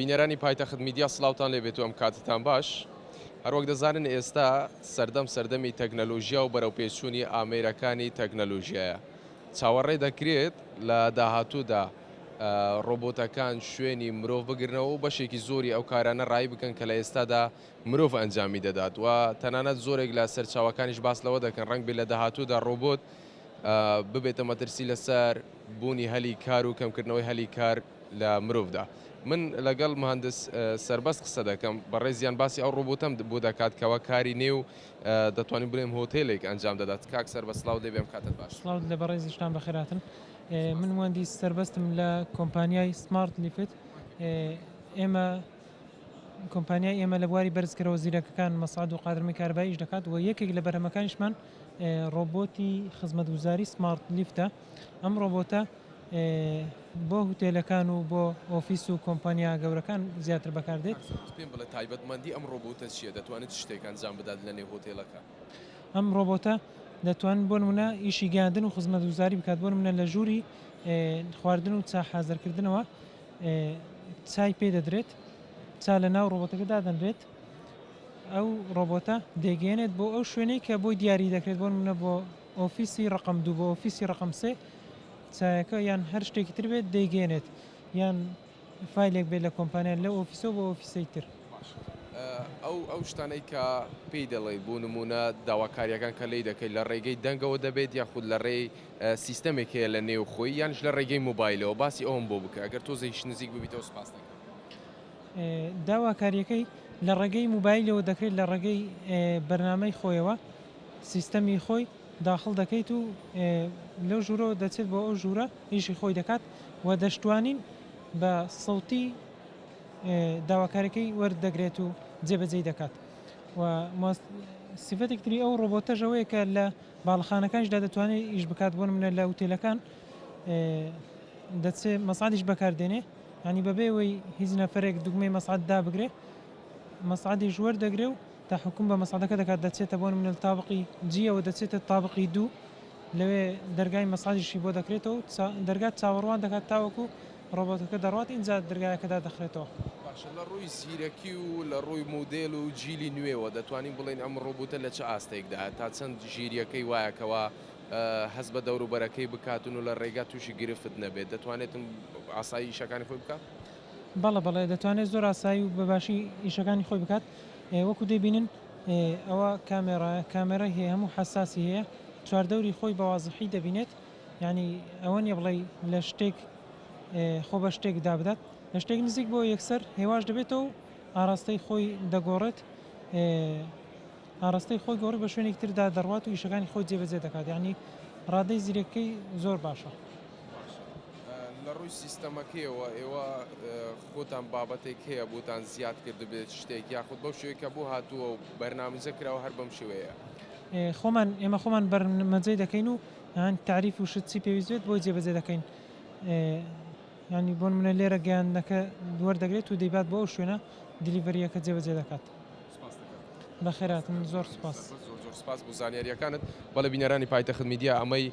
بینەرانی پایتەخت میدیا سڵاوتان لێ بێت و ئەم کاتەتان باش. هەروەک دەزانن ئێستا سەردەم سەردەمی تەکنەلۆژیا و بەرەوپێشچوونی ئامێرەکانی تەکنەلۆژیایە. چاوەڕێ دەکرێت لە داهاتوودا ڕۆبۆتەکان شوێنی مرۆڤ بگرنەوە و بەشێکی زۆری ئەو کارانە ڕایی بکەن کە لە ئێستادا مرۆڤ ئەنجامی دەدات و تەنانەت زۆرێک لە سەرچاوەکانیش باس لەوە دەکەن ڕەنگبێت لە داهاتوودا ڕۆبۆت ببێتە مەترسی لەسەر بوونی هەلی کار و کەمکردنەوەی هەلی کار لە مرۆڤدا. من لەگەڵ مهندس سەربەست قسە دەکەم، بەڕێزیان باسی ئەو ڕۆبۆتەم بۆ دەکات کەوا کاری نێو دەتوانین بڵێم هۆتێلێک ئەنجام دەدات. کاک سەربەست سڵاوت لێبێ ئەم کاتەت باش. سڵاوت لێ بەڕێز ئیشتان بەخێر هاتن. من مهندس سەربەستم لە کۆمپانیای سمارت لیفت. ئێمە کۆمپانیای ئێمە لە بواری بەرزکەرەوە زیرەکەکان مەسعەد و قادرمی کارەبای ئیش دەکات و یەکێک لە بەرهەمەکانیشمان ڕۆبۆتی خزمەتگوزاری سمارت لیفتە. ئەم ڕۆبۆتە بۆ هوتێلەکان و بۆ ئۆفیس و کۆمپانیا گەورەکان زیاتر بەکاردێت. کاک سۆران پێم بڵێ تایبەتمەندی ئەم ڕۆبۆتە چیە دەتوانێت چ شتێک ئەنجام بدات لە نێو هۆتێلەکە؟ ئەم ڕۆبۆتە دەتوانێت بۆ نمونە ئیشی گەیاندن و خزمەتگوزاری بکات بۆ نمونە لە ژوری خواردن و چا حازر کردنەوە چای پێ دەدرێت چا لە ناو ڕۆبۆتەکە دادەنرێت ئەو ڕۆبۆتە دەیگەێنێت بۆ ئەو شوێنەی کە بۆی دیاری دەکرێت بۆ نمونە بۆ ئۆفیسی ڕەقەم دوو بۆ ئۆفیسی ڕەقەم سێ چایەکە یان هەر شتێکی تر بێت دەیگەێنێت یان فیلێک بێت لە کۆمپانیان لە ئۆفیسۆ بۆ ئۆفیسی تر. ئەو ئەو شتانەی کە پێی دەڵێی بوو نمونە داواکاریەکان کە لی دەکەیت لە ڕێگەی دەنگەوە دەبێت یاخود لە ڕێی سیستەمێک هەیە لە نێو خۆی یانش لە ڕێگەی موبایلەوە باسی ئەوم بۆ بکە گەر تۆزێکیش نزیک ببیتەوە سپاس دەکەم. داواکاریەکەی لە ڕێگەی موبایلەوە دەکرێت لە ڕێگەی بەرنامەی خۆیەوە. سیستەمی خۆی داخڵ دەکەیت و لەو ژوورەوە دەچێت بۆ ئەو ژوورە ئیشی خۆی دەکات و دەشتوانین بە سەوتی داواکارەکەی وەرت دەگرێت و جێبەجێی دەکات و سیفەتێک تری ئەو ڕۆبۆتەش ئەوەیە کە لە باڵخانەکانشدا دەتوانێت ئیش بکات بۆ منە لە وتێلەکان دەچێت مەسادیش بەکاردێنێ ینی بەبێ ئەوەی هیچ نەفرێک دوگمەی مەسعد دابگرێ مەسعدی ژوەر دەگرێ و تەحوکوم بە مەسعەدەکە دەکات دەچێتە بۆ نمونە تابقی جیەوە دەچێتە تابقی دوو لەوێ دەرگای مەسعەدیشی بۆ دەکرێتەوە دەرگات چاوەڕوان دەکات تاوەکو ڕۆبۆتەکە دەڕوات ئینجا دەرگایەکە دادەخرێتەوە. باشە لە ڕووی زیرەکی و لە ڕووی مودێل و جیلی نوێوە دەتوانین بڵێین ئەم ڕۆبوتە لە چ ئاستێکدایە تا چەند ژیریەکەی وایە کەوا هەست بە دەوروبەرەکەی بکاتن و لە ڕێگا تووشی گرفت نەبێت دەتوانێتن ئاسایی ئیشەکانی خۆی بکات؟ بەڵێ بەڵێ دەتوانێت زۆر ئاسایی و بەباشی ئیشەکانی خۆی بکات وەکو دەیبینن ئەوە کامێڕایە کامێرای هەیە هەموو حساسی هەیە چواردەوری خۆی بەوازحی دەبینێت یعنی ئەوە نیە بڵێ لە شتێک خۆ بە شتێک دابدات لە شتێک نزیک بۆ یەکسەر هێواش دەبێتەوە ئاراستەی خۆی دەگۆڕێت ئاڕاستەی خۆی گۆڕی بە شوێنێکی تردا دەڕوات و ئیشەکانی خۆی جێبەجێ دەکات یانی ڕادەی زیرەکەی زۆر باشە. لە ڕووی سیستەمەکەیەوە ئێوە خۆتان بابەتێک هەیە بۆتان زیاد کردبێت شتێک یاخود بەو شوێ کە بۆ هاتووە و بەرنامەزە کراوە هەر بەم شوەیە خۆمان ئێمە خۆمان بەرمەجەی دەکەین و هەن تعریف و شت چی پێویستێت بۆی جێبەجێ دەکەین ینی بۆن منە لێرە گەیاندنەکە دوەر دەگرێت و دەیبات بۆ ئەو شوێنە دلیڤریەکە جێبەجێ دەکات. بەخێرهاتن زۆر سوپاس. زۆر زۆر سوپاس بۆ زانیاریەکانت بەڵێ بینەرانی پایتەخت میدیا ئەمەی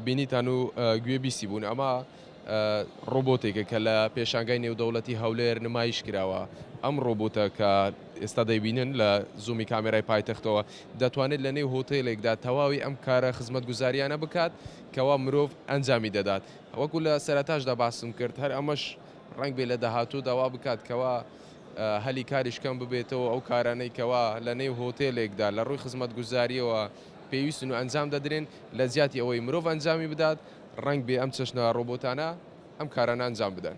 بینیتان و گوێ بیسی بوون ئەمە ڕۆبۆتێکە کە لە پێشانگای نێودەوڵەتی هەولێر نمایش کراوە ئەم ڕۆبۆتە کە ئێستا دەیبینن لە زومی کامێرای پایتەختەوە دەتوانێت لە نێو هۆتێلێکدا تەواوی ئەم کارە خزمەت گوزاریانە بکات کەوا مرۆڤ ئەنجامی دەدات وەکو لە سەرتاشدا باسم کرد هەر ئەمەش ڕنگ بێ لە داهاتوو داوا بکات کەوا هەلی کاریش کەم ببێتەوە، ئەو کارانەی کەوا لە نێو هۆتێلێکدا لە ڕووی خزمەتگوزارییەوە پێویستن و ئەنجام دەدرێن، لە جیاتی ئەوەی مرۆڤ ئەنجامی بدات، ڕەنگ بێ ئەم چەشنە ڕۆبۆتانە ئەم کارانە ئەنجام بدەن.